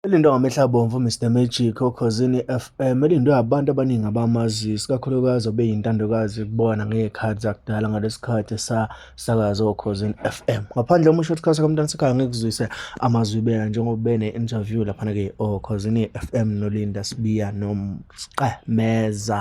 Elindwa ngamehla abomvu Mr Magic okhozini FM elindwe abantu abaningi abamazi sikakhulukazi obeyintandokazi kubona ngey'khathi zakudala ngalesikhathi esasakaza okhozini FM ngaphandle uma usho ukuthi khasa kamntana sekhaya ngikuzwise amazwi beka njengoba bene interview laphana ke okhozini FM nolinda sibiya nomqemeza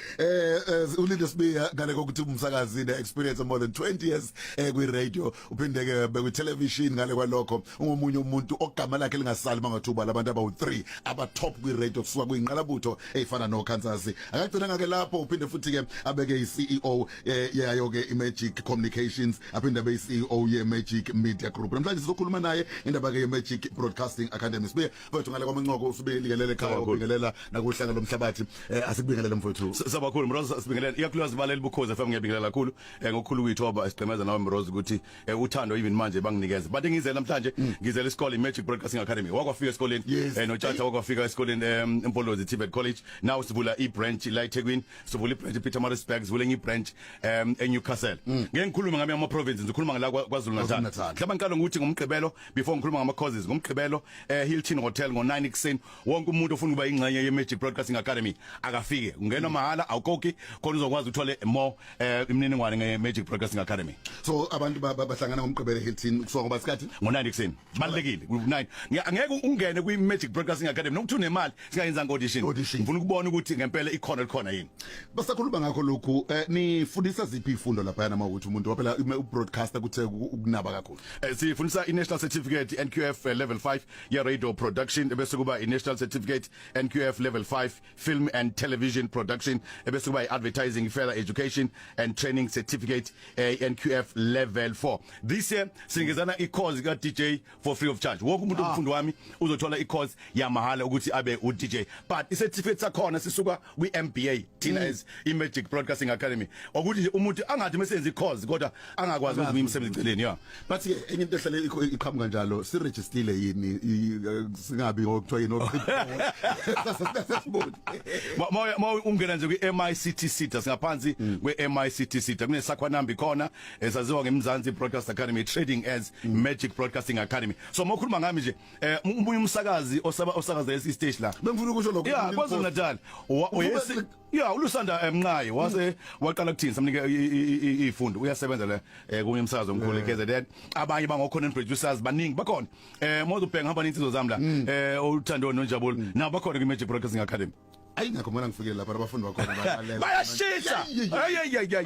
eh, eh ulinde sibiya ngale kokuthi umsakazi ne experience more than 20 years eh kwi radio uphinde ke bekwi television ngale kwalokho ungomunye umuntu ogama lakhe lingasali mangathuba labantu abawu 3 aba top kwi radio kusuka kwinqalabutho efana no Kansas akagcina ngake lapho uphinde futhi ke abeke i CEO eh, yayo ke i Magic Communications aphinde abe i CEO ye Magic Media Group namhlanje sizokhuluma naye indaba ke ye Magic Broadcasting Academy sibuye mfowethu ngale kwamancoko usibingelele ekhaya ubingelela nakuhlanga lomhlabathi eh, asikubingelele mfowethu sabakhulu mroza sibingelele iyakhulukazi baleli bukhoza FM ngiyabingelela kakhulu eh, ngokukhulu kwethu oba sigqemeza nawe mroza ukuthi eh, uthando even manje banginikeza but ngizela namhlanje mm. ngizela isikole Magic Broadcasting Academy wakwafika esikoleni notshatha wakwafika esikoleni eMpolozi Tibet College now sivula i-branch la eThekwini sivula i-branch ePeter Maritzburg sivula enye i-branch um eNewcastle mm. ngeke ngikhulume ngami ama-provinces ngikhuluma ngala KwaZulu-Natal mhlawumbe ngiqala ngokuthi ngomgqibelo before ngikhuluma ngama causes ngomgqibelo eh Hilton Hotel ngo 9 ekseni wonke umuntu ofuna ukuba ingxenye ye Magic Broadcasting Academy akafike ungena mahala awukoki khona uzokwazi uthole more eh imininingwane nge Magic Broadcasting Academy so abantu bahlangana ngomgqibelo Hilton kusuka ngoba sikhathi ngo 9 ekseni balekile ku 9 ngeke ungene kwi Magic Broadcasting Academy nokuthi unemali singayenzanga audition Audition. ngifuna ukubona ukuthi ngempela ikhona likhona yini basakhuluma ngakho lokhu eh, nifundisa ziphi ifundo lapha yana mawuthi umuntu waphela ume- ubroadcaster kuthe uku- ukunaba kakhulu Eh, sifundisa i-national certificate nqf eh, level 5 ye-radio production ebese kuba i-national certificate nqf level 5 film and television production ebese kuba i-advertising further education and training certificate eh, nqf level 4 this year sinikezana i-course ka-dj for free of charge wonke umuntu Ah. umfundi wami uzothola i-course yamahhala ukuthi abe u-dj but i-certificate sakhona sisuka kwi-mba thina Mm. as i-magic broadcasting academy okuthi nje umuntu angathi mesenza i-course kodwa angakwazi ukuthi ngiyimsebenzi eceleni ya but ke enye into ehlale ikho- iqhamuka njalo sirejistile yini i- eh, singabi ngokuthiwa yini oqhiboni Ma- ma- ma ungena nje kwi-mictc das ngaphansi kwe-mictc kunesakhwanambi khona esaziwa ngeMzansi Broadcast Academy trading as Magic Broadcasting Academy so mokhuluma ngami nje eh umunye umsakazi osaba osakaza lesi stage la bengifuna ukusho lokho yeah kwaZulu Natal oyesi yeah ulusanda emnqayi wase waqala kuthini samnike ifundo uyasebenza la eh, kunye umsakazo omkhulu KZN abanye bangokhona producers baningi bakhona eh mozo bheka hamba ninsizwa zami la mm. eh uthando nonjabulo mm. nabo bakhona ku Magic Broadcasting Academy ayingakho mina ngifikele lapha abafundi bakhona bayashisa ayayayay